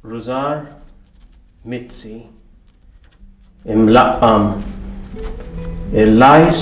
Rużar Mizzi imlaqqam il-lajs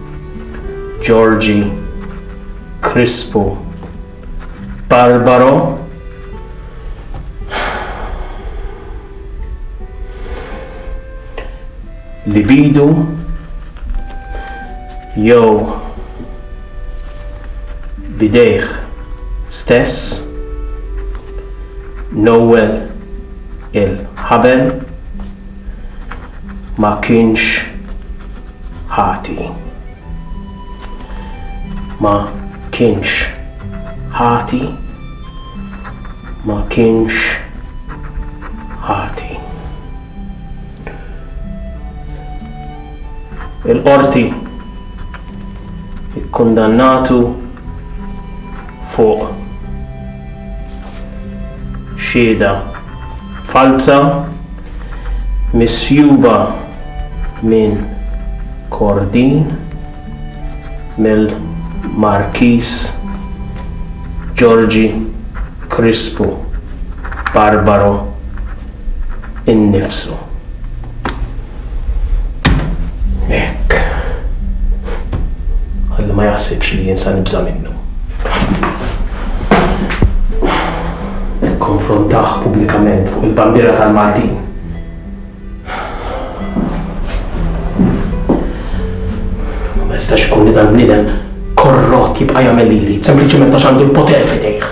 Georgie, Krispu, Barbaro, Libidu, jew bidejh stess, Noel il-ħabel ma kienx ħati. Ma kienx ħati. Ma kienx ħati. Il-qorti ikkundannatu fuq xieda falza misjuba minn Kordin mill-Markiż Ġorġi Krispu Barbaro innifsu. Hekk. Ħalli ma jaħsibx li jinsa nibża' minnu. Konfrontaħ pubblikament fuq il-bandiera tal-Maltin. Ma jistax ikun li dal-bniedem korrott jibqa' jagħmel li jrid, sempliċement għax għandu l-poter fidejh.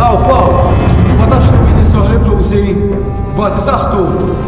Aw, Paul, ma tafx li min jisroq l-influsi, bati saħtu.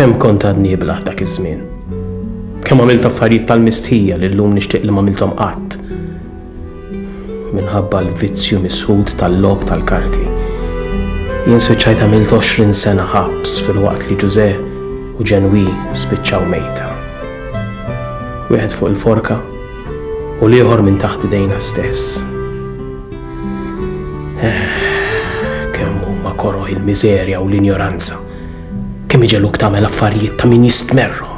Kemm kont għadni iblaħ dak iż-żmien. Kemm għamilt affarijiet tal-mistħija li llum nixtieq li m'għamilthom qatt. Minħabba l-vizzju misħud tal-log tal-karti. Jien spiċċajt għamilt 20 sena ħabs fil-waqt li Ġużè u Ġenwi spiċċaw mejta. Wieħed fuq il-forka u l-ieħor minn taħt idejna stess. Kemm huma koroh il-miżerja u l-injoranza. Kemm iġeluk tagħmel affarijiet ta' min jistmerru.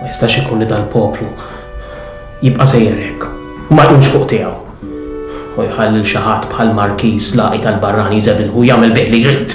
Ma jistax ikun li dal-poplu jibqa' sejjer hekk. Ma jkunx fuq tiegħu. U jħalli xi ħadd bħal Markiż laqi tal-barrani jżebilħu jagħmel bih li jrid.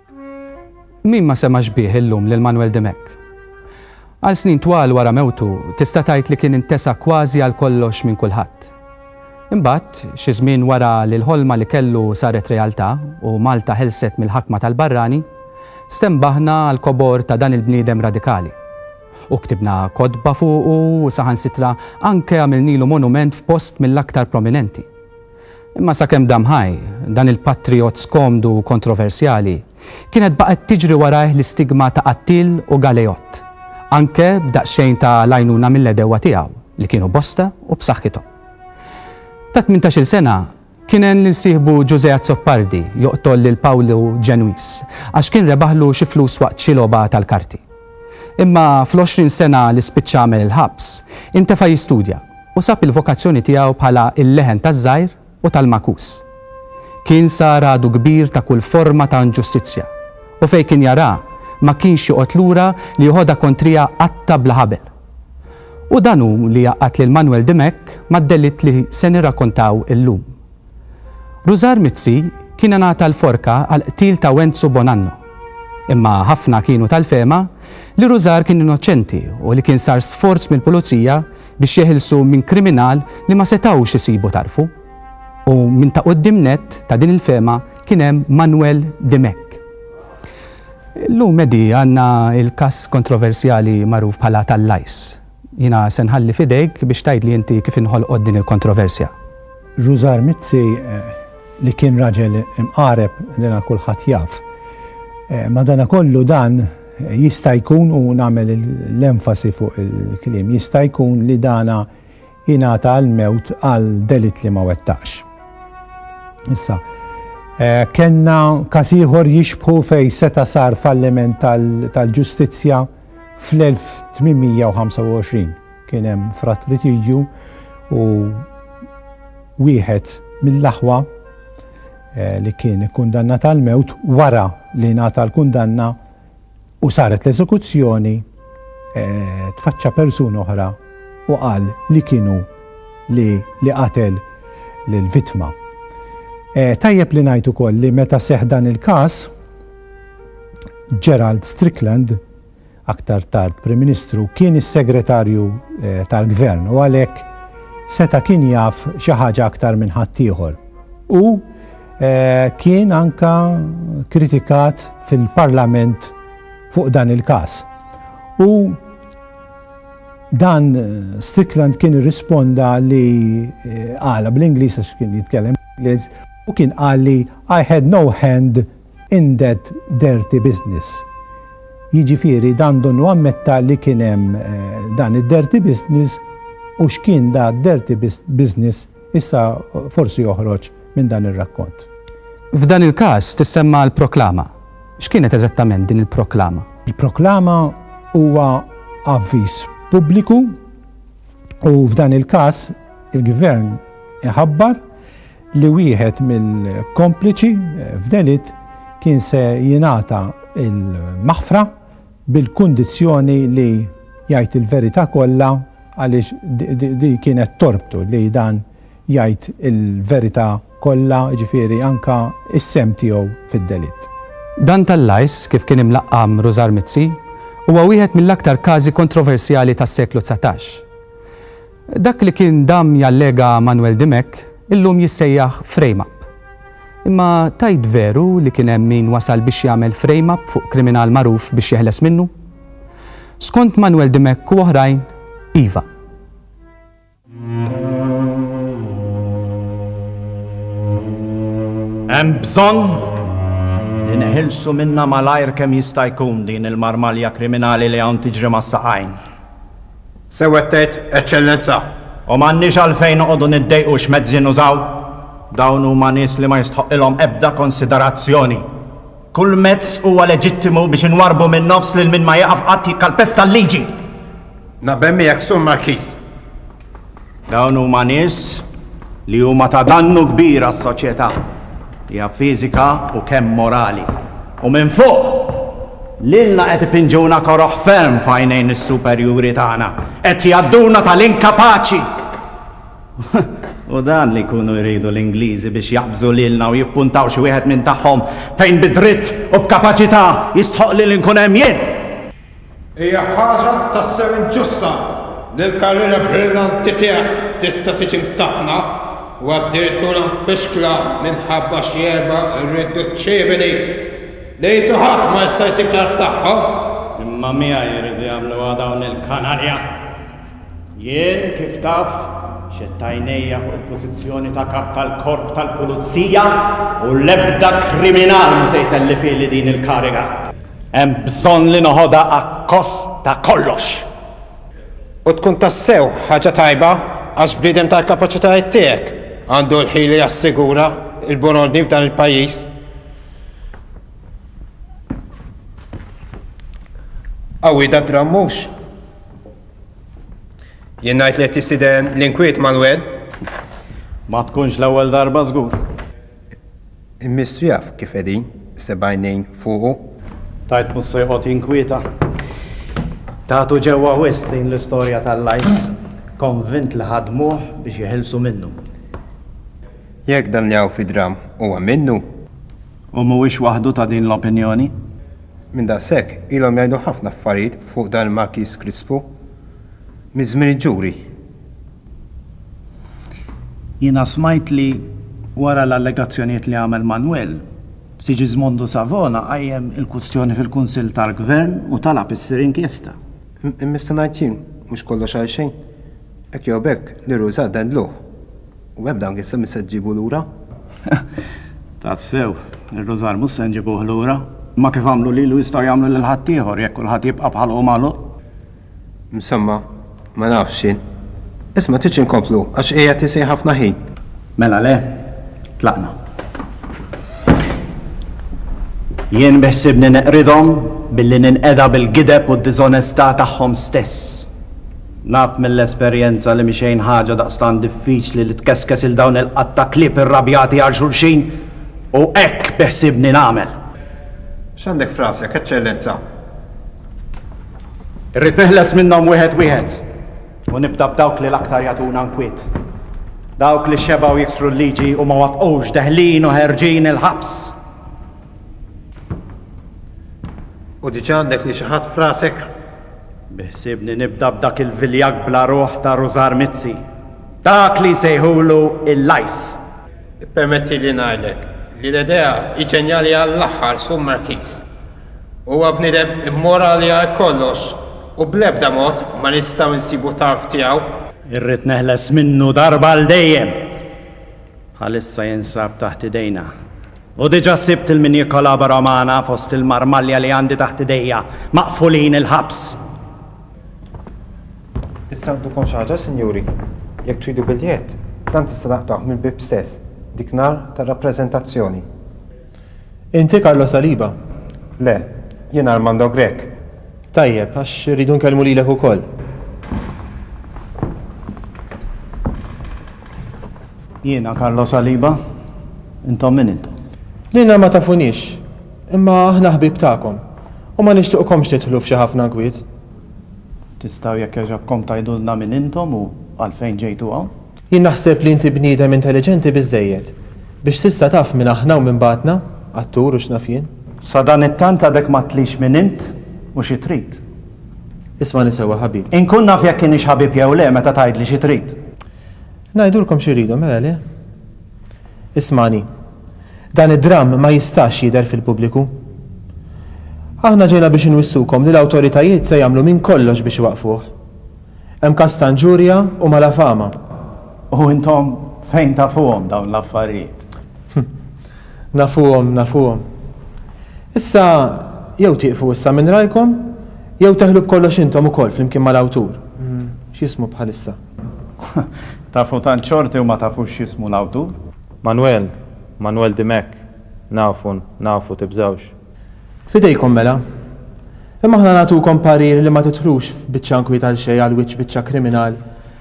Min ma semax bih illum lil Manwel Dimech? Għal snin twal wara mewtu tista' tgħid li kien intesa kważi għal kollox minn kulħadd. Imbagħad, xi żmien wara li l-ħolma li kellu saret realtà u Malta ħelset mill-ħakma tal-barrani, stenbaħna għall-kobor ta' dan il-bniedem radikali. U ktibna kotba fuqu u saħansitra anke għamilnilu monument f'post mill-aktar prominenti. Imma sakemm dam ħaj, dan il-patrijott skomdu u kontroversjali, kienet baqgħet tiġri warajh l-istigma ta' qattiel u galejott, anke b'daqsxejn ta' l-għajnuna mill-għedewwa tiegħu, li kienu bosta u b'saħħithom. Ta' tmintax-il sena, kien għen lil sieħbu Ġużè Azzopardi joqtol lil Pawlu Ġenwiż, għax kien rebaħlu xi flus waqt xi logħba tal-karti. Imma fl-għoxrin sena li spiċċa għamel il-ħabs, intefa' jistudja u sab il-vokazzjoni tiegħu bħala l-leħen taż-żgħir u tal-magħkus. Kien sar għadu kbir ta' kull forma ta' inġustizzja u fejn kien jaraha ma kienx joqgħod lura li joħodha kontriha qatta' bla ħabel. U dan hu li jgħaqqad lil Manwel Dimech mad-delitt li se nirrakontaw illum. Rużar Mizzi kien ingħata l-forka għall-qtil ta' Wenzu Bonanno. Imma ħafna kienu tal-fehma li Rużar kien innoċenti u li kien sar sforz mill-Pulizija biex jeħilsu minn kriminal li ma setgħux isibu tarfu. U minn ta' quddiem nett ta' din il-fehma kien hemm Manwel Dimech. Illum, Eddie, għandna l-każ kontroversjali magħruf bħala tal-Lajs. Jiena se nħalli f'idejk biex tgħidli inti kif inħolqot din il-kontroversja. Rużar Mizzi, li kien raġel imqareb li ra kulħadd jaf. Madanakollu dan jista' jkun, u nagħmel l-enfasi fuq il-kliem jista' jkun li dana ingħata l-mewt għal delitt li ma wettaqx. Issa, kellna każ ieħor jixbħu fejn seta' sar falliment tal-ġustizzja. Fl-1825 kien hemm fratritiġju u wieħed mill-aħwa eh, li kien kundanna tal-mewt wara li nata l-kundanna u saret l-eżekuzzjoni eh, tfaċċa persuna oħra u qal li kienu li li qatel l-vitma. Eh, tajjeb li ngħid ukoll li meta seħ dan il-każ Gerald Strickland, aktar tard Prim Ministru, kien is-Segretarju tal-Gvern u għalhekk seta' kien jaf xi ħaġa aktar minn ħaddieħor. U kien anka kritikat fil-Parlament fuq dan il-każ. U dan Strickland kien irrisponda li għala bl-Ingliż għax kien jitkellem Ingliż u kien qal li I had no hand in that dirty business. Jiġifieri dan donnu ammetta li kien hemm dan id-dirty business u x'kien da dirty business issa forsi joħroġ minn dan ir-rakkont. F'dan il-każ tissemma l-proklama. X'kienet eżattament din il-proklama? Il-proklama huwa avviż pubbliku u f'dan il-każ il-Gvern iħabbar li wieħed mill-kompliċi f'delitt kien se jingħata l-maħfra bil-kundizzjoni li jgħid il-verità kollha għaliex din kienet torbtu li dan jgħid il-verità kollha, jiġifieri anke s-sehem tiegħu fid-delitt. Dan tal-Lajs, kif kien imlaqqam Rużar Mizzi, huwa wieħed mill-aktar każi kontroversjali tas-seklu dsatax. Dak li kien damm jallega Manwel Dimech illum jissejjaħ frame up. Imma tgħid veru li kien hemm min wasal biex jagħmel frame up fuq kriminal magħruf biex jeħles minnu? Skont Manwel Dimech u oħrajn, iva. Hemm bżonn li neħilsu minnha malajr kemm jista' jkun din il-marmalja kriminali li hawn tiġri mas-saqajn. Sew qed tgħid, Eċċellenza, u m'għandniex għalfejn noqogħdu niddejqu x'mezzi nużaw. Dawn huma nies li ma jistħoqqilhom ebda konsiderazzjoni. Kull mezz huwa leġittimu biex inwarrbu min-nofs lil min ma jieqaf qatt jikkalpesta l-liġi! Naqbel miegħek, Sur Markiż. Dawn huma nies li huma ta' dannu kbir għas-soċjetà, hija fiżika u kemm morali. U minn fuq, lilna qed ipinġuna koroh ferm f'għajnejn is-superjuri tagħna, qed jgħadduna tal-inkapaċi! U dan li jkunu jridu l-Ingliżi biex jaqbżu lilna u jippuntaw xi wieħed minn tagħhom fejn bi dritt u b'kapaċità jistħoqqli li nkun hemm jien! Hija ħaġa tassew inġusta li l-karriera brillanti tiegħek tista' tiġi mtappna u addirtura mfixkla minħabba xi erba' irriduċċibili li qisu ħadd ma jista' jsib tarf tagħhom. Imma miegħi jridu jagħmluha dawn il-kanarja! Jien, kif taf, xedt għajnejja fuq il-pożizzjoni ta' Kap tal-Korp tal-Pulizija u l-ebda kriminal mhu se jtellifili din il-kariga. Hemm bżonn li noħodha akkost ta' kollox. U tkun tassew ħaġa tajba għax bniedem tal-kapaċitajiet tiegħek għandu l-ħil li jassigura l-buon ordni f'dan il-pajjiż. Qawwi da' dramm mhux? Jien ngħid li qed tistieden l-inkwiet Manwel. Ma tkunx l-ewwel darba żgur. Il-Mistru jaf kif qegħdin seba' għajnejn fuqu. Tgħid mhux se joqgħod jinkwieta? Tagħtu ġewwa wisq din l-istorja tal-lajs. Konvint li ħadmuh biex jeħilsu minnu. Jekk dan li hawn fid-dramm huwa minnu. U mhuwiex waħdu ta' din l-opinjoni. Minn daqshekk, ilhom jgħidu ħafna affarijiet fuq dan il-Markiż Krispu, minn żmien il-ġuri. Jiena smajt li, wara l-allegazzjonijiet li għamel Manwel, Sigismondo Savona qajjem il-kwistjoni fil-Kunsill tal-Gvern u talab issir inkjesta. Imma nista' ngħid jien, mhux kollox għalxejn. Hekk jew b'hekk, Liru Żagħda ndluh. U hekk dan kien se mhux se ġġibu lura? Tassew, ir-rużar mhux se nġibuh lura. Imma kif għamlu lilu jistgħu jagħmlu lil ħaddieħor jekk kulħadd jibqa' bħalqu magħluq. Msemma, ma nafx jien. Isma' tridx inkomplu għax qiegħed isejh ħafna ħin. Mela le, tlaqna. Jien beħsiebni neqridhom billi ninqeda bil-gideb u d-diżonestà tagħhom stess. Naf mill-esperjenza li mhi xejn ħaġa daqstant diffiċli li tkeskes 'il dawn il-qatt ta' klieb irrabjati għal xulxin u hekk beħsiebni nagħmel. X'għandek f'rasek, Eċċellenza? Irrid neħles minnhom wieħed wieħed u nibda b'dawk li l-aktar jagħtuna nkwiet. Dawk li xebgħu jiksru l-liġi u ma waffqux deħlin u ħerġin il-ħabs. U diġà għandek lil xi ħadd f'rasek? Biħsiebni nibda b'dak il-viljag bla ruħ ta' Rużar Mizzi. Dak li jsejħulu il-Lajs. Ippermettili ngħidlek li l-idea hi ġenjali għall-aħħar, Sur Markiż. Huwa bniedem immorali għal kollox u bl-ebda mod ma nistgħu nsibu tarf tiegħu. Irrid neħles minnu darba għal dejjem. Bħalissa jinsab taħt idejna. U diġà sibt lil min jikkolabora magħna fost il-marmalja li għandi taħt idejja, maqfulin il-ħabs! Tista' ngħidulkom xi ħaġa, sinjuri? Jekk tridu biljett, dan tista' taqtgħuh mill-bieb stess, dik nhar tar-rappreżentazzjoni. Inti Carlo Saliba? Le, jiena Armando Grech. Tajjeb, għax irridu nkellmu lilek ukoll. Jiena Carlo Saliba, intom min intom? Lilna ma tafunix, imma aħna ħbieb tagħkom u ma nixtuqkomx tidħlu f'xi ħafna nkwiet. Tistgħu jekk jogħġobkom tgħidulna min intom u għalfejn ġejtu hawn? Jien naħseb li inti bniedem intelliġenti biżżejjed biex s'issa taf min aħna u min bagħatna, attur u x'naf jien. Sadanittant għadek ma għedtlix min int u xi trid. Ismagħni sewwa ħabib. Inkun naf jekk inix ħabib jew le meta tgħidli xi trid. Ngħidulkom xi rridu mela le? Ismagħni. Dan id-dramm ma jistax jidher fil-pubbliku. Aħna ġejna biex inwissukom li l-awtoritajiet se jagħmlu minn kollox biex iwaqqfuh. Hemm każ ta' inġurja u malafama. U intom fejn tafuhom dawn l-affarijiet? Nafuhom, nafuhom. Issa, jew tieqfu issa minn rajkom, jew teħlu b'kollox intom ukoll flimkien mal-awtur. X'jismu bħalissa? Tafu tant xorti u ma tafux x'jismu l-awtur? Manwel, Manwel Dimech, Nafu, nafu, tibżgħux. F'idejkom mela. Imma aħna nagħtukom parir li ma tidħlux f'biċċa inkwiet għalxejn għal wiċċ biċċa kriminal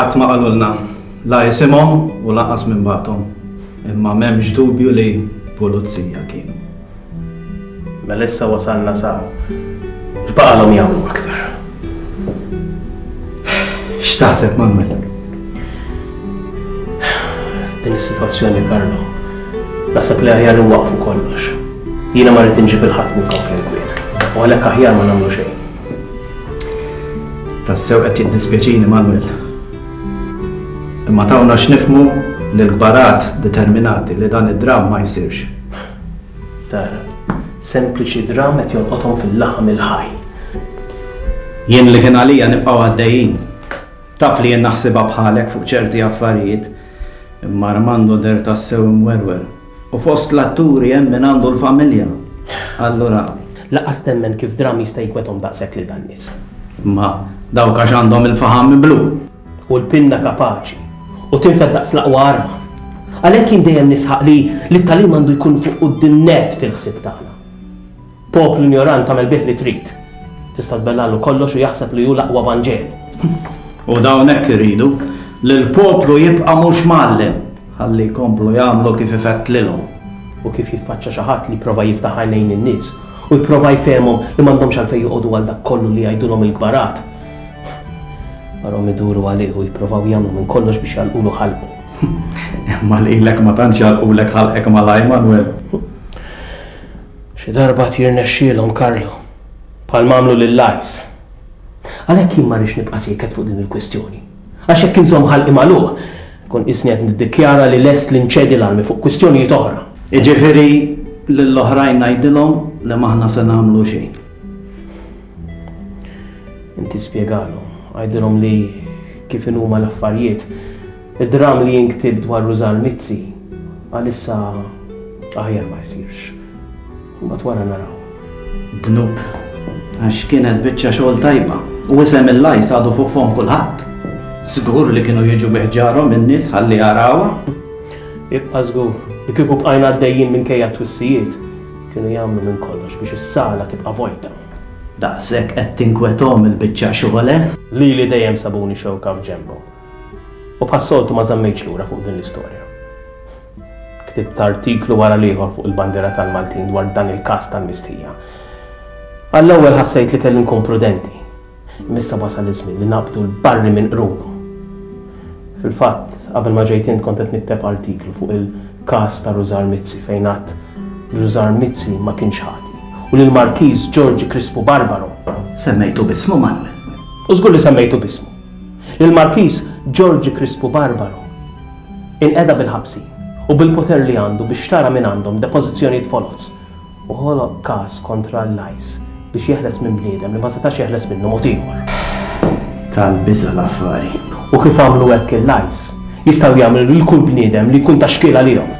Qatt ma qalulna la isimhom u lanqas min bagħathom, imma m'hemmx dubju li pulizija kienu. Mela issa wasalna sa x'baqalhom jagħmlu aktar? X'taħseb Manuel? Din is-sitwazzjoni Karlo, naħseb li aħjar inwaqfu kollox. Jiena ma rrid inġib il-ħadd minn konflinkwiet, u għalhekk aħjar ma nagħmlu xejn. Tassew qed jiddispjaċini Manwel. Imma tawna x'nifhmu li l-kbarat determinati li dan id-dramm ma jsirx. Tara, sempliċi dramm qed jolqothom fil-laħam il-ħaj. Jien li kien għalija nibqgħu għaddejjin. Taf li jien naħsibha bħalek fuq ċerti affarijiet, imma Armando deher tassew imwerwer. U fost l-atturi hemm min għandu l-familja, allura. Lanqas temmen kif dramm jista' jikwetgħom daqshekk lil dan-nies. Imma dawk għax għandhom il-faħam miblu. U l-pinna kapaċi. U tinfed daqs l-aqwa arma. Għalhekk jien dejjem nisħaq li t-tagħlim għandu jkun fuq quddiem nett fil-ħsieb tagħna. Poplu injorant tagħmel bih li trid. Tista' tbellagħlu kollox u jaħseb li hu l-aqwa vanġel. U dawn hekk iridu, li l-poplu jibqa' mhux mgħallem, ħalli jkomplu jagħmlu kif ifettlilhom. U kif jitfaċċa xi ħadd li jipprova jiftaħ għajnejn in-nies, u jipprova jfehmhom li m'għandhomx għalfejn joqogħdu għal dak kollu li jgħidulhom il-kbarat, għarhom iduru għalih u jipprovaw jagħmlu minn kollox biex jagħlqulu ħalqu. Imma lilek ma tantx jagħlqulek ħalqek malajr, Manwel. Xi darba jirnexxielhom, Carlo. Bħalma għamlu lill-Ice. Għalhekk jien ma rridx nibqa' sieket fuq din il-kwistjoni. Għax jekk inżomm ħalqi magħluq, inkun qisni qed niddikjara li lest li nċedi l-armi fuq kwistjonijiet oħra. Jiġifieri lill-oħrajn ngħidilhom li m'aħna se nagħmlu xejn. Inti spjegalhom. Għidilhom li kif inhuma l-affarijiet, Id-dramm li jinktieb dwar Rużann Mizzi għalissa aħjar ma jsirx. Imbagħad wara naraw. Dnub, għax kienet biċċa xogħol tajba u isem il-lajs għadu fuq fom kulħadd. Żgur li kienu jiġu biħġarhom in-nies ħalli jarawha. Ibqa' żgur, li kieku bqajna għaddejjin minkejja twissijiet, kienu jagħmlu minn kollox biex is-sala tibqa' vojta. Daqshekk qed tinkwetom il-biċċa xogħol, eh? Lili dejjem sabuni xewka f'ġenbhom. U bħas-soltu ma żammejtx lura fuq din l-istorja. Ktibt artiklu wara l-ieħor fuq il-bandiera tal-Maltin dwar dan il-każ tal-mistħija. Għall-ewwel ħassejt li kelli nkun prudenti, imma issa wasal iż-żmien li naqbdu l-barri minn qrunu. Fil-fatt, qabel ma ġejt int kont qed nikteb artiklu fuq il-każ ta' Rużar Mizzi fejn għadt li Rużar Mizzi ma kienx ħati u li l-Markiż Ġorġi Krispu Barbaro, Semmejtu b'ismu, Manwel? U żgur li semmejtu b'ismu. Lill-Markiż Ġorġi Krispu Barbaro inqeda bil-ħabsi u bil-poter li għandu biex xtara mingħandhom depożizzjonijiet foloz u ħoloq każ kontra l-ICE biex jeħles minn bniedem li ma setax jeħles minnu mod ieħor. Tal-biża' l-affari. U kif għamlu hekk il-ICE, jistgħu jagħmlu lil kull bniedem li jkun ta' xkiel għalihom.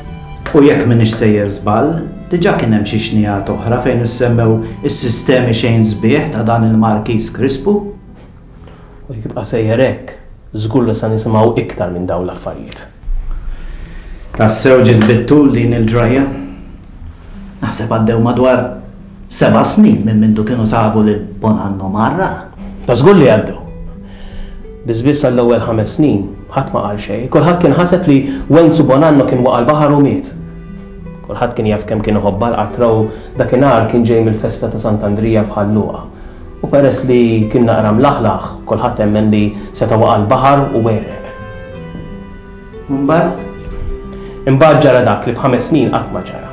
U jekk m'iniex sejjer żball, diġà kien hemm xi xnigħat oħra fejn issemmew is-sistemi xejn sbieħ ta' dan il-Markiż Krispu. U jekk jibqa' sejjer hekk, żgur li se nisimgħu iktar minn dawn l-affarijiet. Tassew ġiet bit-tul din il-ġrajja. Naħseb għaddew madwar seba' snin minn mindu kienu sabu lil Bonanno mgħarraq. Ta' żgur li għaddew. Biss biss għall-ewwel ħames snin, ħadd ma qal xejn. Kulħadd kien ħaseb li Wenzu Bonanno kien waqa' l-baħar u miet. Kulħadd kien jaf kemm kien iħobbha l-qatra u dakinhar kien ġej mill-festa ta' Sant'Andrija f'Ħal Luqa. U peress li kien naqra mlaħlaħ, kulħadd emmen li seta' waqa' l-baħar u għereq. U mbagħad? Imbagħad ġara dak li f'ħames snin qatt ma ġara.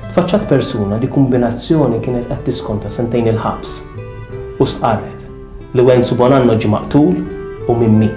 Tfaċċat persuna li kumbinazzjoni kienet qed tiskonta sentejn il-ħabs u stqarret, Liwenzu Bonanno ġie maqtul u minn min?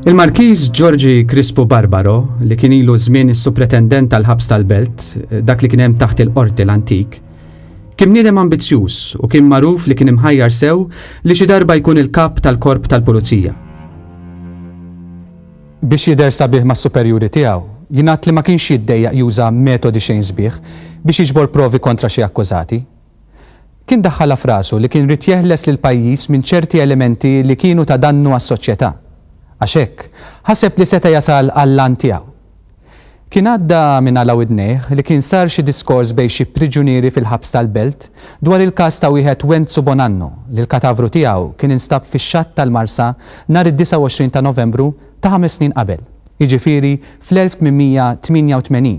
Il-Markiż Ġorġi Krispu Barbaro, li kien ilu żmien is-supretendent tal-ħabs tal-Belt, dak li kien hemm taħt il-qorti l-antik, kien niedem ambizzjuż u kien magħruf li kien imħajjar sew li xi darba jkun il-kap tal-korp tal-pulizija. Biex jidher sabiħ mas-superjuri tiegħu, jingħad li ma kienx jiddejjaq juża metodi xejn sbieħ biex jiġbor provi kontra xi akkużati. Kien daħħalha f'rasu li kien ried jeħles lill-pajjiż minn ċerti elementi li kienu ta' dannu għas-soċjetà. Għax hekk, ħaseb li seta' jasal għall-għan tiegħu. Kien għadda minn għala widnejh li kien sar xi diskors bejn xi priġunieri fil-ħabs tal-Belt dwar il-każ ta' wieħed Wenzu Bonanno li l-katavru tiegħu kien instab fix-xatt tal-Marsa nhar id-29 ta' Novembru ta' ħames snin qabel, jiġifieri fl-1888.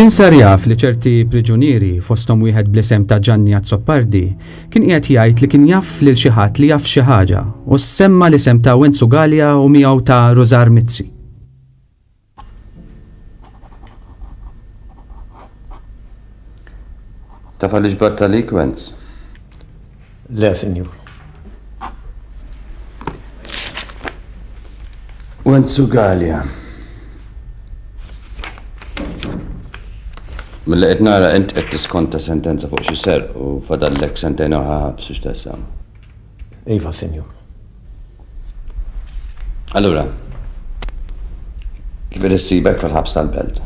Kien sar jaf li ċerti priġunieri fosthom wieħed bl-isem ta' Ġanni Azzopardi kien qiegħed jgħid li kien jaf lil xi ħadd li jaf xi ħaġa u semma l-isem ta' Wenzu Gallia u miegħu ta' Rużar Mizzi. Taf għaliex bat għalik, Wenz? Le, sinjur. Wenz u Galja. Mill-li qed nara int qed tiskonta sentenza fuq xi ser u fadallek sentejn oħra ħabs biex tasam. Iva, Sinjur. Allura, kif irissibek fil-ħabs tal-belt?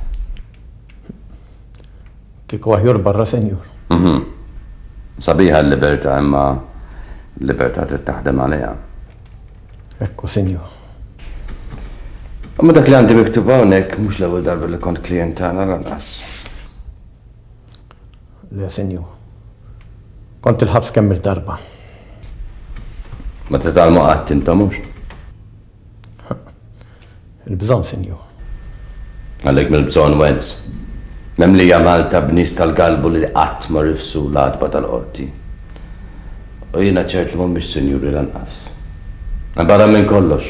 Kieku aħjor barra, Sinjur. Mhm. Sabiħa l-libertà imma l-libertà trid taħdem għaliha. Ekku, Sinjur. Ma dak li għandi miktub hawnhekk mhux l-ewwel darba li kont klijent tagħna lanqas. Le, Sinjur. Kont il-ħabs kemm-il darba. Ma titgħallmu qatt intom, mhux? Il-bżonn, Sinjur. Għalhekk mill-bżonn wedz. Memlija Malta b'nies tal-galbu li qatt ma rifsu l-għatba tal-qorti. U jiena ċert li mhumiex sinjuri lanqas. Barra minn kollox,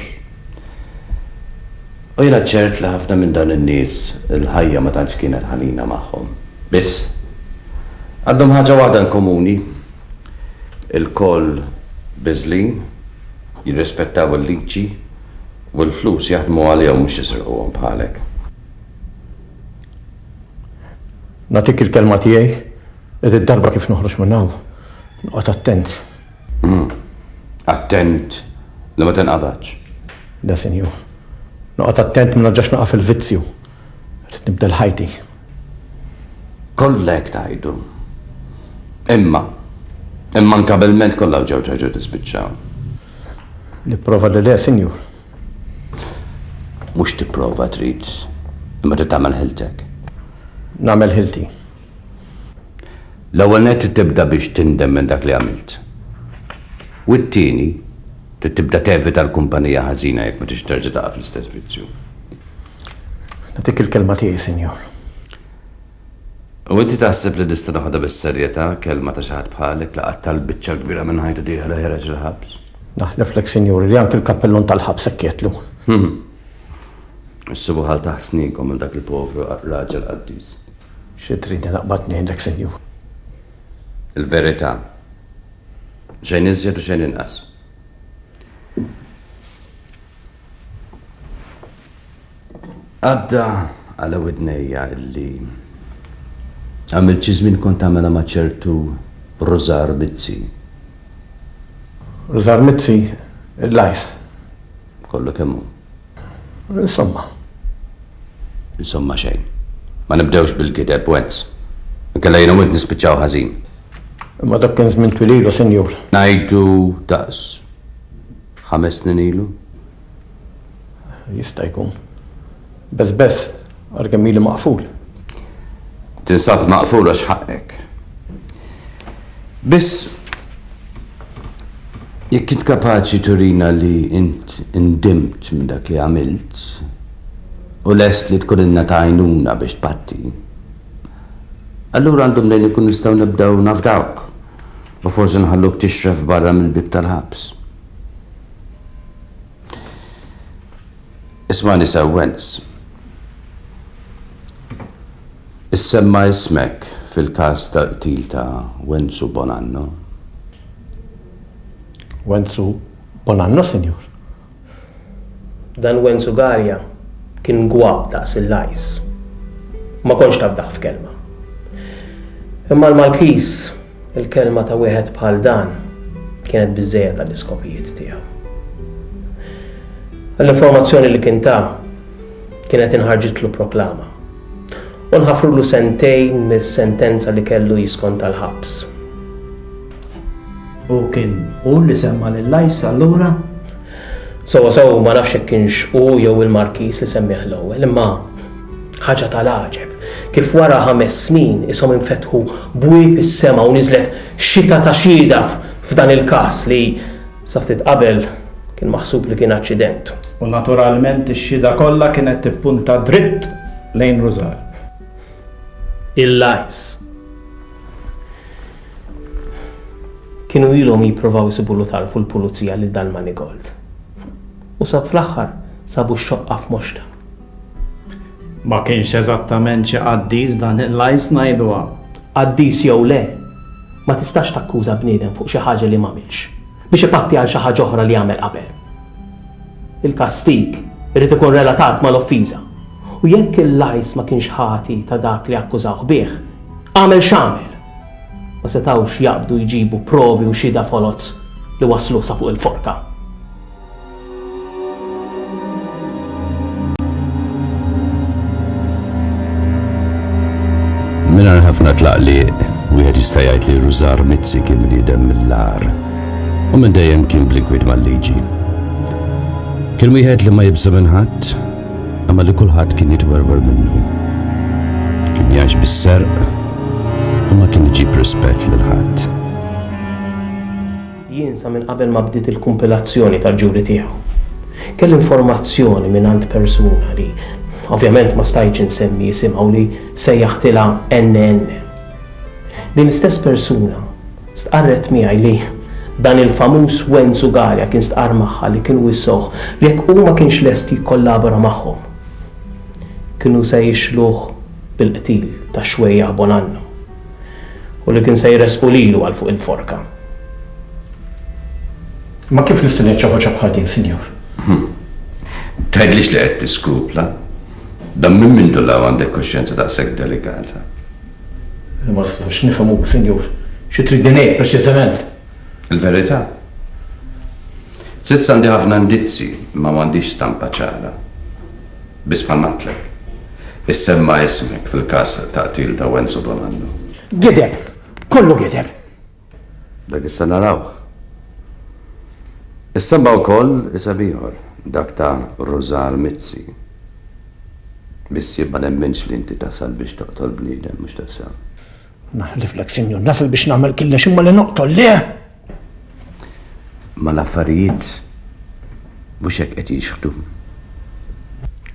U jiena ċert li ħafna minn dawn in-nies il-ħajja ma tantx kienet ħanina magħhom. Biss, għandhom ħaġa waħda inkomuni, ilkoll biżżlin, jirrispettaw il-liġi u l-flus jaħdmu għalihom mhux jisirquhom bħalek. Nagħtik il-kelma tiegħi li did-darba kif noħroġ minn hawn, noqgħod attent. Attent li ma tinqabadx. Le, sinjur. Noqgħod attent ma nerġax naqa' fil-vizzju. Rrid nibdel ħajti. Kollha hekk tgħidu. Imma, immankabilment kollha ġew terġa' tispiċċa. Nipprova li le, sinjur. Mhux tipprova trid, imma trid tagħmel ħiltek. Nagħmel ħilti. L-ewwel nett trid tibda biex tindem minn dak li għamilt. U t-tieni, trid tibda tevita l-kumpanija ħażina jekk ma tridx terġa' taqa' fl-istess vizzju. Nagħtik il-kelma tiegħi, Sinjur. U inti taħseb li nista' noħodha bis-serjetà kelma ta' xi ħadd bħalek li qattal biċċa l-kbira minn ħajtu tiegħu li ħereġ il-ħabs? Naħleflek, Sinjur, li anki l-kappellun tal-ħabs hekk jgħidlu. Issibhu ħaltaħ sninkom għal dak il-povru raġel qaddis. Xi tridni naqbad ngħidlek, Sinjur? Il-verità. Xejn iżjed u xejn inqas. Għadda għal widnejja illi għamilt xi żmien kont tagħmilha ma' ċertu Rużar Mizzi. Rużar Mizzi? Il-lajs? Kollu kemm hu. Insomma. Insomma xejn. Ma nibdewx bil-gideb, Wentz. Inkella jien u int nispiċċaw ħażin. Imma dak kien żmien twil ilu, Sinjur. Ngħidu daqs ħames snin ilu? Jista' jkun. Beżbeż. Għalkemm ili maqful. Tinsab maqful għax ħaqqek. Biss jekk int kapaċi turina li int indimt minn dak li għamilt u lest li tkun inna tajnuna biex tpatti, allura għandhom lejn ikun nistgħu nibdew nafdawk u forsi nħalluk tixref barra mill-bib tal-ħabs. Ismagħni sewwenz. Issemma' ismek fil-każ tal-qtil ta' Wenzu Bonanno? Wenzu Bonanno, Sinjur. Dan Wenzu Garja kien gwab daqs il-lajs. Ma kontx tafdah f'kelma. Imma l-Malkiż. Il-kelma ta' wieħed bħal dan kienet biżżejjed għall-iskopijiet tiegħu. L-informazzjoni li kien ta kienet inħarġitlu proklama u nħafrulu sentejn mis-sentenza li kellu jiskonta l-ħabs. U kien hu li semma' lil Ice allura? Sewwasew ma nafx jekk kienx hu jew il-Markiż li semmieh l-ewwel, imma ħaġa tal-għaġeb kif wara ħames snin ishom infetħu bwieb is-sema u niżlet xita ta' xhieda f'dan il-każ li, sa ftit qabel, kien maħsub li kien aċċident. U naturalment ix-xhieda kollha kienet tippunta dritt lejn Rużal. Il-Lajs. Kienu ilhom jipprovaw isibulu tarf u l-pulizija lil dan Manigold. U sa fl-aħħar sabu x-xoqqa f'moxta. Ma kienx eżattament xi qaddis dan il-Lajs ngħiduha. Qaddis jew le, ma tistax takkuża bniedem fuq xi ħaġa li m'għamilx, biex ipatti għal xi ħaġa oħra li għamel qabel. Il-kastig irid ikun relatat mal-offiża. U jekk il-Lajs ma kienx ħati ta' dak li akkużawh bih, għamel x'għamel! Ma setgħux jaqbdu jġibu provi u xhieda foloz li waslu sa fuq il-forka. Mingħajr ħafna tlaqliq, wieħed jista' jgħid li Rużar Mizzi kien bniedem mill-agħar u minn dejjem kien bl-inkwiet mal-liġi. Kien wieħed li ma jibża' minn ħadd, imma li kulħadd kien jitwerwer minnu. Kien jgħix bis-serq u ma kien iġib rispett lil ħadd. Jien sa minn qabel ma bdiet il-kumpilazzjoni tal-ġuri tiegħu, kelli informazzjoni mingħand persuna li, ovvjament ma stajtx insemmi isimha u li sejjaħtilha NN. Din l-istess persuna Stqarret miegħi li dan il-famuż Wen Zugaria kien stqarr magħha li kienu wissuh li jekk hu ma kienx lest jikkollabora magħhom, kienu se jixluh bil-qtil ta' Xwejjaħ Bonanno u li kien se jressqu lilu għal fuq il-forka. Imma kif nista' ngħid xi ħaġa bħal din, Sinjur? Tgħidlix li qed tiskrupla? Dan minn mindu 'l hawn għandek kuxjenza daqshekk delikata? Jiena ma nistax nifhem hu, Sinjur, xi tridni ngħid preċiżament. Il-verità? S'issa għandi ħafna indizji imma m'għandix stampa ċara. Biss bħal m'għedtlek, issemma ismek fil-każ ta' qtil ta' Wenzu Bonanno. Gideb! Kollu gideb! Dak issa narawh. Issemma' wkoll isem ieħor, dak ta' Rużar Mizzi. Biss jien ma nemminx li inti tasal biex toqtol bniedem, mhux tassew? Naħliflek, Sinjur, nasal biex nagħmel killex imma li noqtol le! Imma l-affarijiet mhux hekk qed jixħtu.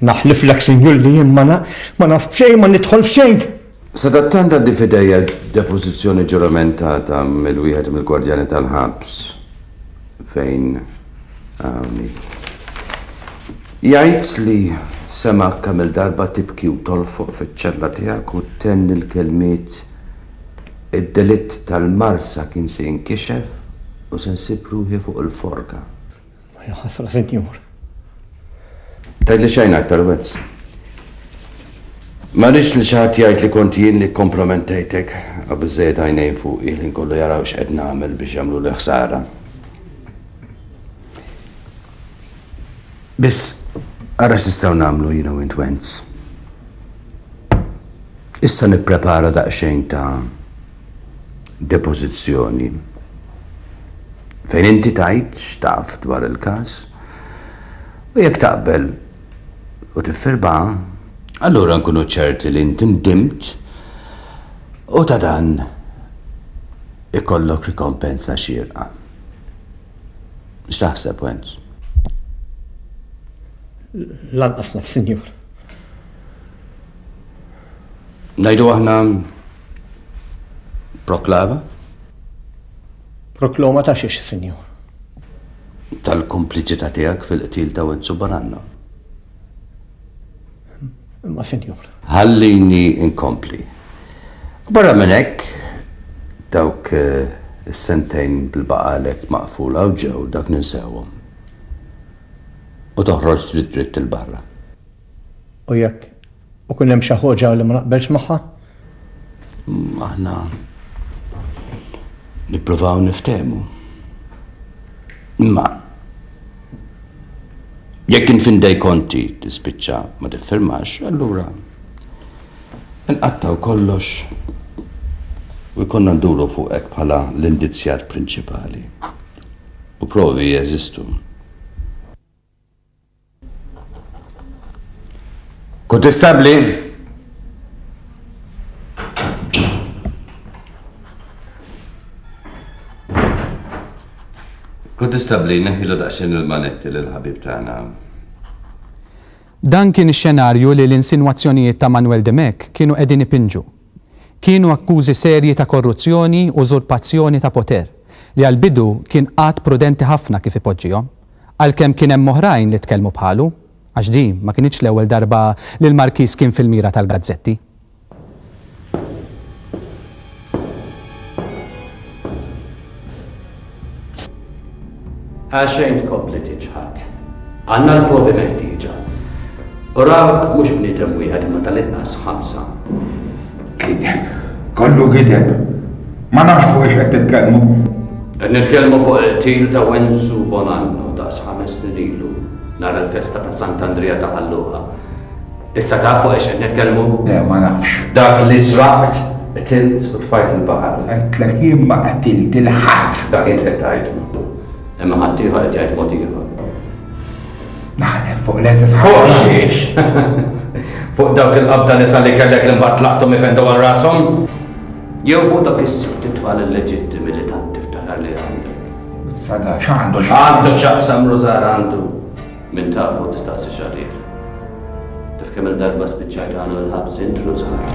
Naħliflek, Sinjur, li jien ma naf b'xejn, ma nidħol f'xejn! Sadattant għandi f'idejja depożizzjoni ġuramentata mill-wieħed mill-gwardjani tal-ħabs fejn hawn hi. Jgħid li semgħek kemm-il darba tibki u tolfoq fiċ-ċella tiegħek u ttenni l-kelmiet Id-delitt tal-marsa kien se jinkixef u se nsib ruħi fuq il-forka. Ja ħasra, sinjur. Tajt li xejn aktar wezz. Ma rridx li xi ħadd jgħid li kont jien li kompromentejtek għabiżejjed għajnejn fuq il kollu jaraw x'qed nagħmel biex jagħmlu li ħsara. Biss, ara x'nistgħu nagħmlu jiena u int Wenz. Issa nipprepara daqsxejn ta' depożizzjoni fejn inti tgħid x'taf dwar il-każ u jekk taqbel u tiffirmaha, allura nkunu ċerti li inti ndimt u ta' dan ikollok rikompensa xierqa. X'taħseb, Wenz? Lanqas naf, Sinjur. Ngħidu aħna Proklama. Prokloma ta' xiex, Sinjur? Tal-kompliċità tiegħek fil-qtil ta' Wenzu Baranna. Imma, Sinjur. Ħallini inkompli. Barra minn hekk, dawk eh, is-sentejn bil-baqalek maqfula u ġew dak ninsewhom. U toħroġ dritt dritt il-barra. U jekk U kien hemm xi ħoġa li ma naqbelx magħha? Aħna nippruvaw niftehmu. Imma jekk infindej konti tispiċċa ma tiffirmax, allura nqattaw kollox u jkollna nduru fuq hekk bħala l-indizjat prinċipali. U provi jeżistu. Kontestabbli? Kontestabbli neħilu daqsxejn il-manetti lil ħabib tagħna. Dan kien ix-xenarju li l-insinwazzjonijiet ta' Manuel Dimech kienu qegħdin ipinġu. Kienu akkużi serji ta' korruzzjoni u użurpazzjoni ta' poter, li għall-bidu kien qagħad prudenti ħafna kif ipoġġihom, għalkemm kien hemm oħrajn li tkellmu bħalu, għax din ma kinitx l-ewwel darba li l-Markiż kien fil-mira tal-gazzetti. Għalxejn tkompli tiċħad. Għandna l-provi meħtieġa. U rawk mhux bniedem wieħed imma tal-inqas ħamsa. Kollu gideb. Ma nafx fuq ix qed titkellmu. Qed nitkellmu fuq il-qtil ta' Wensu Bonanno daqs ħames snin ilu nhar il-festa ta' Sant'Andrija ta' Ħalluqa. Issa tafu għax qed nitkellmu? Le, ma nafx. Dak li sraqt, qtilt u tfajt il-baħar. Għedtlek jien ma qtilt 'il ħadd. Dak int qed tgħid. Imma ħaddieħor qed jgħid mod ieħor. Naħlef fuq l-eżes ħafna. Fuq xiex? Fuq dawk il-qabda nisa li kellek li mbagħad tlaqtu mifendu għal rashom? Jew fuq dak is-sibt tfal illeġittimi li tant tiftaħar li għandek. Sada, x'għandu x'għandu x'aqsam Rużar għandu. Min tafu tistaqsix għalih. Taf kemm-il darba spiċċajt hawn u l-ħabs int ru żgħar?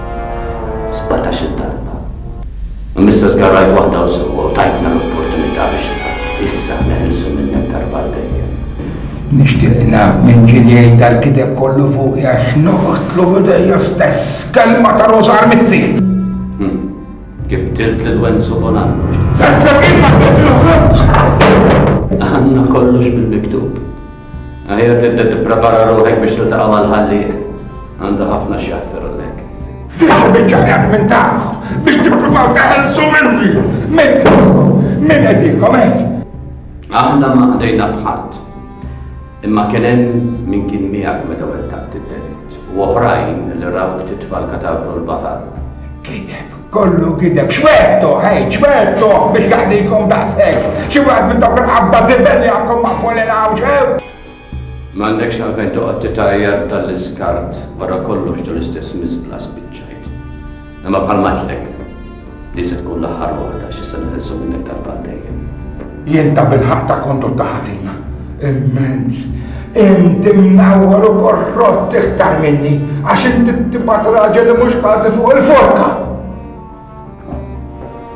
Sbatax-il darba. Imma issa żgarrajt waħda u sewwa u tajtna l-opportunità biex issa neħilsu minnek darba għal dejjem. Nixtieq naf minn ġieli jgħid dal-kideb kollu fuq għax noqgħodlu bidejja stess kelma ta' rużar mizzi. Kif qtilt lil Wenzu Bonanno? Tazza kif ma toħroġx! Għandna kollox bil-miktub. Aħjar tibda tipprepara ruħek biex tiltaqa' mal-ħallieq. Għandha ħafna xi jaħfirulek. Fiex biċċa jaf minn tagħhom biex tippruvaw taħelsu minni. Min qedilkom? Min qedilkom hekk? Aħna ma qdejna bħadd. Imma kien hemm min kien miegħek meta wettaqt id-delitt, u oħrajn li rawk titfa' l-katavru l-baħar. Gideb, kollu gideb. X'wegħedtuh, għid, x'wegħedtuh biex jaħdikom daqshekk? Xi wieħed minn dawk il-qabda żibel li għandkom maqful il hawn xew? M'għandekx għalfejn toqgħod titgħajjar b'dan l-iskart, wara kollox dun l-istess miżbla spiċċajt. Imma bħalma għedtlek, din se tkun l-aħħar waħda għax issa niħilsu minn hekk darba dejjem. Jien ta' bil-ħaq ta' kondotta ħażina, immenz, inti mnawwar u korrott iktar minni għax inti tibgħat raġel li mhux ħalti fuq il-forka.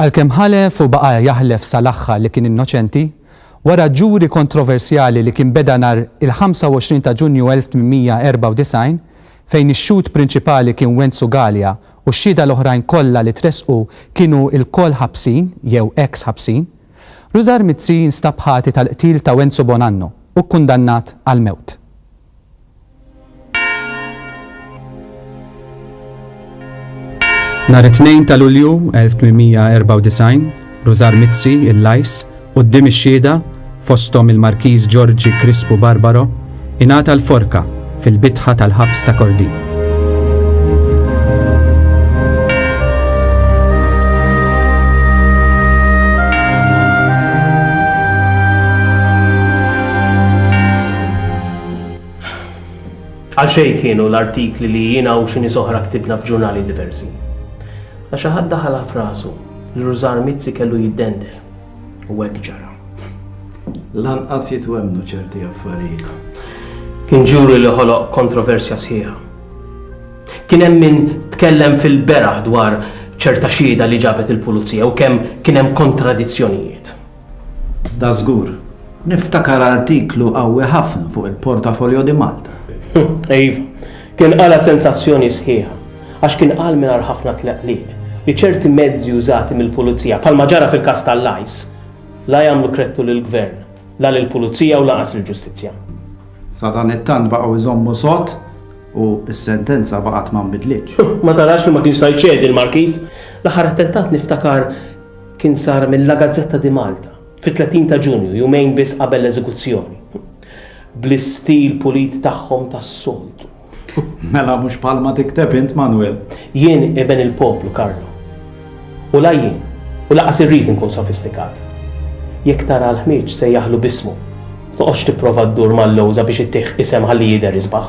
Għalkemm ħalef u baqa' jaħlef sal-aħħar li kien innoċenti, wara ġuri kontroversjali li kien beda nhar il-25 ta' Ġunju 1894, fejn ix-xhud prinċipali kien Wenzu Galea u x-xhieda l-oħrajn kollha li tressqu kienu lkoll ħabsin jew eks ħabsin, Rużar Mizzi nstab ħati tal-qtil ta' Wenzu Bonanno u kkundannat għall-mewt. Nhar it-Tnejn ta' Lulju 1894, Rużar Mizzi, il-Lajs, quddiem ix-xhieda, fosthom il-Markiż Ġorġi Krispu Barbaro, ingħata l-forka fil-bitħa tal-ħabs ta' Kordin. Għal xejn kienu l-artikli li jiena u xi nies oħra ktibna f'ġurnali diversi. La xi ħadd daħalha f'rasu li Rużar Mizzi kellu jiddendel. U hekk ġara. Lanqas jitwemmnu ċerti affarijiet. Kien ġuri li ħoloq kontroversja sħiħa. Kien hemm min tkellem fil-beraħ dwar ċerta xieda li ġabet il-pulizija u kemm kien hemm kontradizzjonijiet. Dażgur. Niftakar artiklu qawwi ħafna fuq il-Portafolio di Malta. Iva. Kien qala sensazzjoni sħiħa. Għax kien qal mingħajr ħafna tleqliq li ċerti mezzi użati mill-Pulizija, bħalma ġara fil-każ tal-Lajs, la jagħmlu kredtu lill-Gvern, la lill-Pulizija u lanqas lill-Ġustizzja. Sadanittant baqgħu jżommu sod u s-sentenza baqgħet ma nbidlitx. Ma tarax li ma kienx sa jċedi l-Markiż? L-aħħar attentat niftakar kien sar mil-La Gazzetta di Malta fit-30 ta' Ġunju, jumejn biss qabel l-eżekuzzjoni, bl-istil pulit tagħhom tas-soltu. Mela mhux bħalma tikteb int, Manwel. Jien iben il-poplu, Karlo. U la jien, u lanqas irrid inkun sofistikat. Jekk tara l-ħmieġ sejjaħlu b'ismu, ma toqgħodx tipprova ddur mal-lewża biex ittih isem ħalli jidher isbaħ.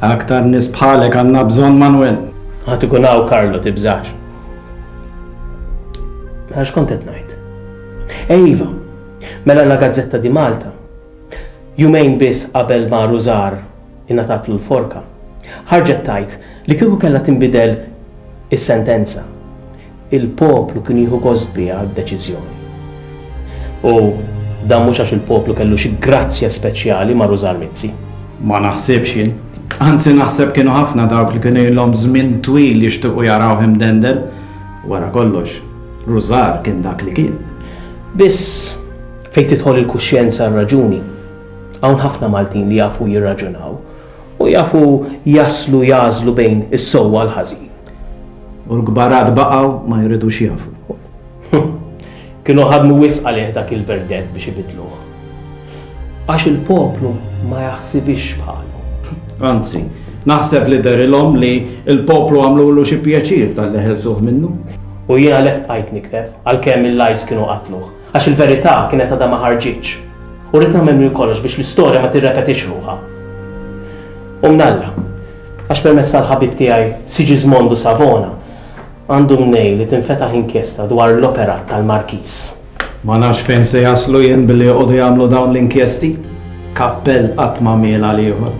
Aktar nies bħalek għandna bżonn, Manwel. Ħadd ikun hawn, Karlo, tibżax. Għax kont qed ngħid. Ejva, mela la Gazzetta di Malta. Jumejn biss qabel ma Rużar ingħatatlu l-forka. Ħarġet tajt li kieku kellha tinbidel is-sentenza. Il-poplu kien jieħu gost biha d-deċiżjoni. U dan mhux għax il-poplu kellu xi grazzja speċjali ma' Rużar Mizzi. Ma naħsibx jien. Anzi naħseb kienu ħafna dawk li kien ilhom żmien twil jixtiequ jarawh imdendel. Wara kollox, Rużar kien dak li kien. Biss, fejn tidħol il-kuxjenza r-raġuni, hawn ħafna Maltin li jafu jirraġunaw u jafu jaslu jagħżlu bejn is-sewwa l-ħażin. U l-kbarat baqgħu ma jridux jafu. Kienu ħadmu wisq għalih dak il-verdett biex ibidluh. Għax il-poplu ma jaħsibix bħalu. Anzi, naħseb li derilhom li il-poplu għamlulu xi pjaċir tal-li ħelsuh minnu. U jien għalhekk bqajt niktef għalkemm il-lajs kienu qatluh. Għax il-verità kienet għadha ma ħarġitx. U rrid nagħmel minn kollox biex l-istorja ma tirrepetix ruħha. U mnalla, għax permezz tal-ħabib tiegħi Sigismondo Savona, Għandu mnejn li tinfetaħ inkjesta dwar l-operat tal-Markiż. Ma nafx fejn se jaslu jien billi joqogħdu jagħmlu dawn l-inkjesti. Kappell qatt m'għamiel għal ieħor.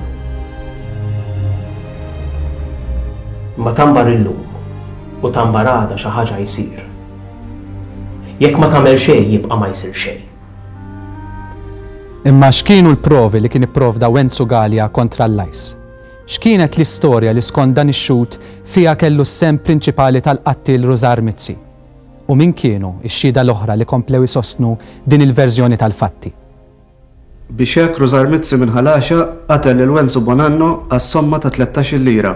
Imma ta' mbarr illum u ta' mbarr għada xi ħaġa jsir. Jekk ma tagħmel xejn jibqa' ma jsir xejn. Imma x'kienu l-provi li kien ipprovda Wenzu Galea kontra l-Lajs? X'kienet l-istorja li skont dan ix-xhud fiha kellu s-sehem prinċipali tal-qattiel Rużar Mizzi? U min kienu x-xhieda l-oħra li komplew isostnu din il-verżjoni tal-fatti? Biex hekk Rużar Mizzi minn Ħalaxa qatel lil Wenzu Bonanno għas-somma ta' tlettax-il lira.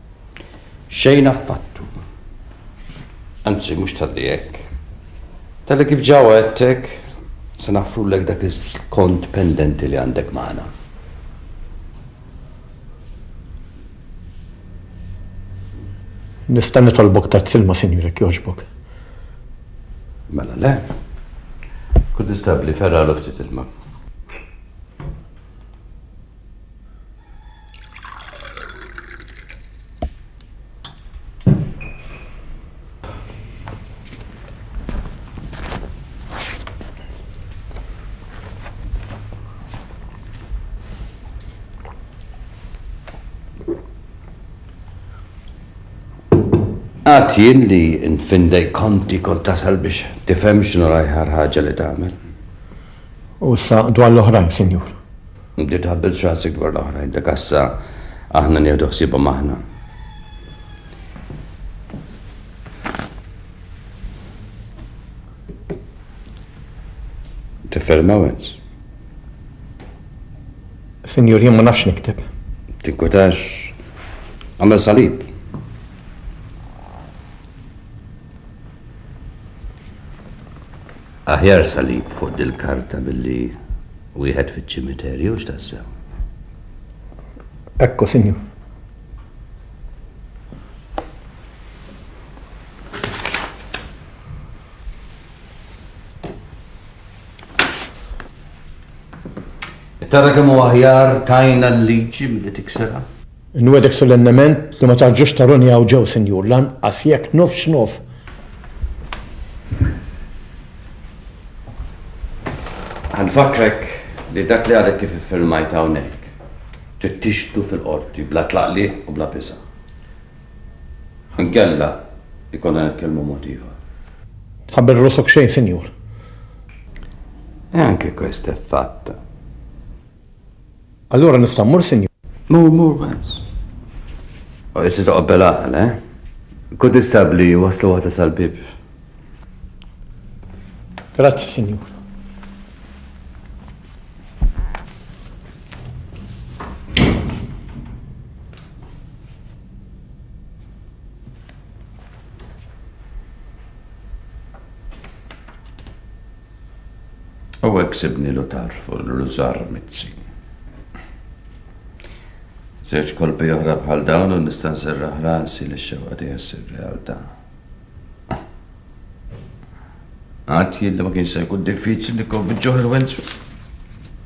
Xejn affattu. Anzi, mhux talli hekk. Talli kif ġa wegħedtek, se naħfrulek dak il-kont pendenti li għandek magħna. Nista' nitolbok tazz ilma, sinjur, jekk jogħġbok? Mela le. Kunnistabbli, fergħalu ftit ilma. Għat jien li nfindej konti kont tasal biex tifhem x'nu l-ajħar ħaġa li tagħmel. U sa dwar l-oħrajn, Sinjur? Inti tħabbelx rasek dwar l-oħrajn, dak għassa aħna nieħdu ħsiebhom aħna. Tiffermawens. Sinjur, jien ma nafx nikteb. Tinkutax. Għamel salib. Aħjar salib fuq dil-karta billi Wieħed fiċ-ċimiterju, hux tassew? Ekku, Sinjur. Tara kemm hu aħjar tajna l-liġi milli tiksirha? Inwegħdek solennement li ma tarġax taruni hawn ġew, Sinjur, lanqas jekk nofs x'nof. Ħa nfakkrek li dak li għadek kif iffirmajt hawnhekk, trid tixhdu fil-Qorti bla tlaqliq u bla biża'. Ħa nkella jkollna nitkellmu mod ieħor. Tħabbel rosok xejn, Sinjur. E anche questo è fatto. Allura nista' mmur, Sinjur? Mur, mur, Vance. U issi toqgħod bil-għaqal, eh? Kun istabbli waslu waħda sal-bieb. Grazzi, Sinjur. U hekk sibnilu tarfu l-rużar mizzi. Żewġ kolpi oħra bħal dawn u nista' nserraħ rasi li xewqa tiegħi ssir realtà. Għad jien li ma kienx se jkun diffiċli nikkonvinċuh il-wenzu.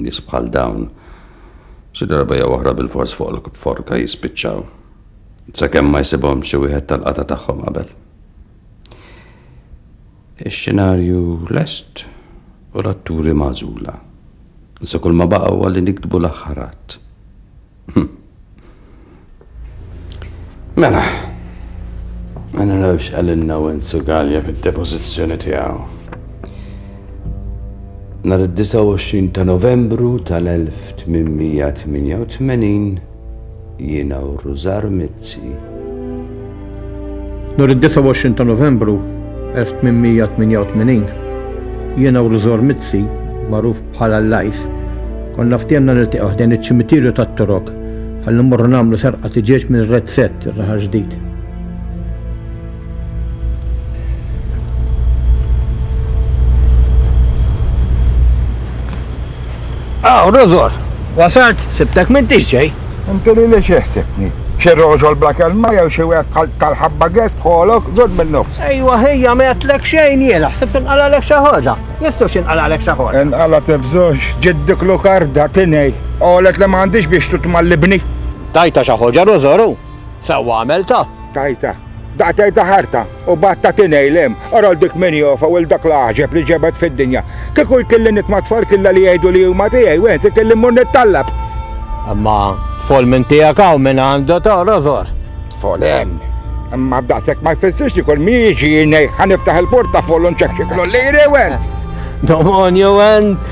Nies bħal dawn xi darba jew oħra bilfors fuq il-forka jispiċċaw, sakemm ma jsibhomx xi wieħed tal-qatgħa tagħhom qabel. Ix-xenarju lest u l-atturi magħżula. Issa kull ma baqa' huwa li niktbu l-aħħar att. Hmm. Mela, għanna nafx għalinna u inzu galja fil-depozizjoni tijaw. Nar 29 ta' novembru tal-1888 jiena u Ruzar Mizzi Nhar id-29 ta' Novembru 1888, jiena u l-Żgħor Mizzi, magħruf bħala l-Għajs, konna ftiehemna niltaqgħu ħdejn iċ-Ċimitirju tat-Torok ħalli mmorru nagħmlu serqa tiġieġ minn Red Set, ir-Raħal Ġdid. Aw, Rozor! Wasalt? Sibtek m'intix ġej! Inti lili xi ħsibtni? Xi rożol bla kelma jew xi wieħed bħal tal-ħabba gedd f'ħolok? Żomm min-nofs! Ejwa ħija ma għedtlek xejn jiena, ħsibt inqalagħlek xi ħaġa. Jistgħu x'inqalagħlek xi ħaġa. Inqalgħet f'żewġ, ġiet dik Lukarda, tinei, qalet li m'għandix biex titma' l-ibni. Tajtha xi ħaġa, Rozor, u? Sewwa għamiltha. Tajtha. Daqqa tgħidha ħarta u bgħad tagħti ngħilem, orol dik min jofa u 'l dak l-għaġeb li ġebed fid-dinja. Kieku jkilli nitma' tfal killa li jgħidu li huma tiegħi, wieħed ikelli mmur nittallab. Imma tfal minn tiegħek hawn min għandu taqra żgħar. Tfal hemm. Imma b'daqshekk ma jfissirx li kull min jiġi ngħid ħa niftaħ il-portafoll u nċekċiklu li jrewens. Domon jew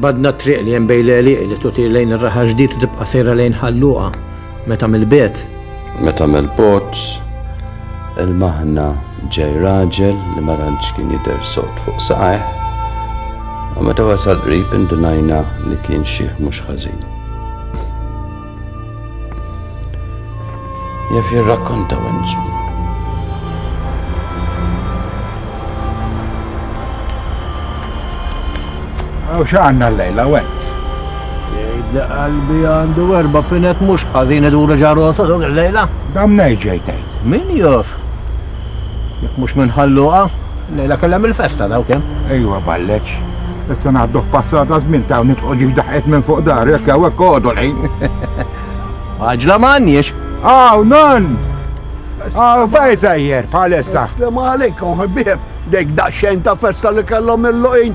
B'għadna t-triq li hemm bejn l-għelieqi li tutir lejn ir-raħal ġdid u tibqa' sejra lejn Ħal Luqa, meta mill-bogħod. Meta mill-bogħod, ilmaħna ġej raġel li ma tantx kien jidher sod fuq saqajh, u meta wasal qrib indunajna li kien xiħ mhux ħażin. Jaf jirrakkonta wenzu. Għaw xaqanna l-lejla, wenz. Jgħidda qalbi għandu erba pinet mux ħazin id-dura ġarrosa dog l-lejla. Dam nejġejtajt. Min jof? Jekk mhux minn Ħalluqa, lejla kellha mill-festa dawk hemm. Ejwa balleċ. Issa naħduh passata żmien ta' nitqgħu ġiex daħqet minn fuq dar, jekk hawn hekk għodu lejn. Għaġla ma għandniex. Aw, non! Aw, fejn sejjer, bħalissa. Slim għalikom, ħbib. Dejk daqsxejn ta' festa li kellhom il-luqin,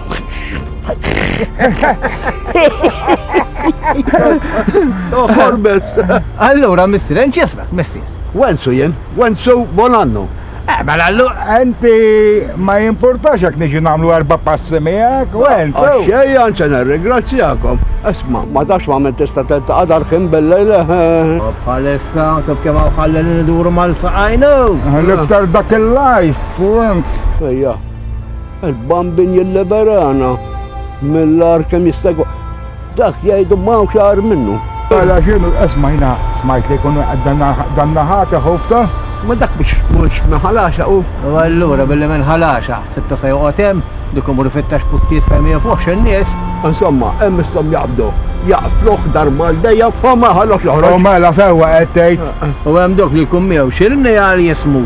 Uħor bes. Allura, mister, enċ jismek, mister. Wensu jen, wensu bon annu. Eh, mela allu. Enti ma jimportax jek niġi namlu erba passi miegħek, wensu. Ah, xej, anċa nirringrazzjakom. Esma, ma tax ma minn tista' telta qadar ħin bil-lejl. Bħalissa, eh. taf kemm ħallin niduru mal-saqajnu. L-iktar dak il-lajs, wensu. Ejja. Il-bambin jilliberana mill-ar kemm jista' jkun. Dak jgħidu m'hawn xar minnu. Għala xinu l-qesma jina smajt li jkunu dan naħata ħofta? Ma dak biex mhux minn ħalaxa u? U allura billi minn ħalaxa sibtu fejn joqgħod hemm, dik imur ifittex postijiet fejn ma jafux in-nies. Insomma, hemm misthom jaqbdu, jaqtluh darba għal dejjem u ma jħallux joħroġ. U mela sewwa qed tgħid. U hemm dawk li jkun miegħu xi rnejjal jismu.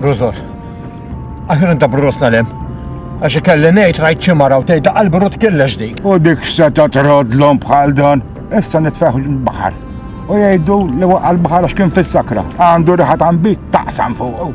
Bruzos. Aħjar inta bruzos tal-em. Għax ikelli ngħid rajt xi mara u tgħidha qalbi rut killex dik. U dik seta trodlhom bħal dan. Issa nitfeħ l-baħar. U jgħidu li waqqa l-baħar għax kien fis-sakra. Għandu riħat għambi taqsam fuq.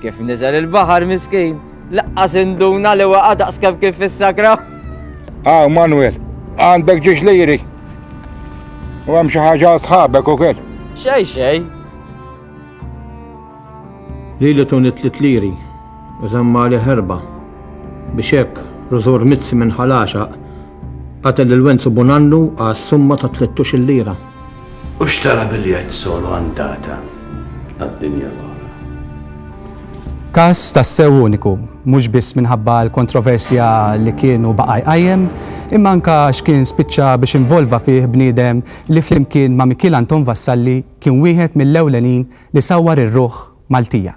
Kif niżel il-baħar miskin, laqqas induna li waqa' daqskemm kif fis-sakra. Ah, Manuel, għandek ġiex liri. U hemm xi ħaġa sħabek ukoll. Xej xej. Li li tuni tlit liri, u żamma li ħerba. Biex hekk, rużur mizzi minn ħalaxaq Qatgħet lil Wenzu Bonannu għas-summa ta' tlietux-il lira. U xtara biljett solo andata għad-dinja l-oħra. Każ tassew uniku, mhux biss minħabba l-kontroversja li kien u baqa' jqajjem, imma anke għax kien spiċċa biex involva fih bniedem li flimkien ma' Mikiel Anton Vassalli kien wieħed mill-ewlenin li sawwar ir-ruħ Maltija.